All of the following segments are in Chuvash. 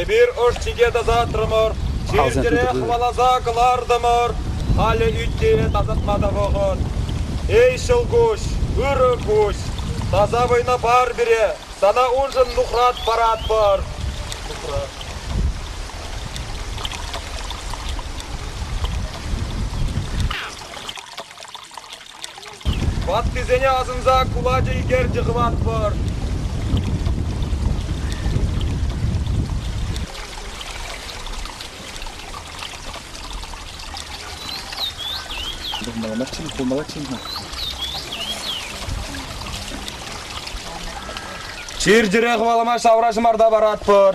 Эпир ӑш-чике тасатрӑмӑр, чир-чӗре хӑваласа кӑлартӑмӑр. Халӗ ӳт-те тасатма та вӑхӑт. Эй, ҫӑлкуҫ, ырӑ куҫ, таса вӑйна пар пире, сана уншӑн нухрат паратпӑр. Нухрат. Ваттисене асӑнса кулачӑ ӳкерчӗ хӑватпӑр. Маламаччин, хулмалаччин-ха. Чир-чӗре хӑвалама шавра ҫӑмарта паратпӑр.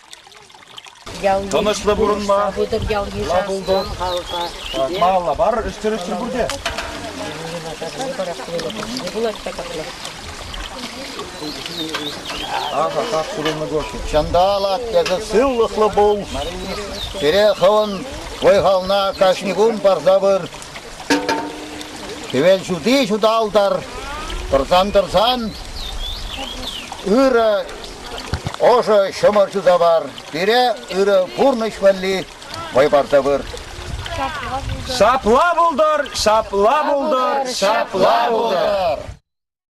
Тӑнӑҫлӑ пурӑнма Лабулдор Малабар ӗҫтӗр-ӗҫтӗр пурте. Аха, как сурӑмлӑ гости. Чандала, тесе сывлӑхлӑ пул. Пире хӑвӑн вӑй-хална кашни кун парса пыр. Хӗвел ҫути ҫуталтар. Тӑрсан-тӑрсан ырӑ Ӑшӑ ҫӑмӑр ҫуса мар, пире ырӑ пурнӑҫ валли вӑй парса пыр. Ҫапла пултӑр, ҫапла пултӑр, ҫапла пултӑр.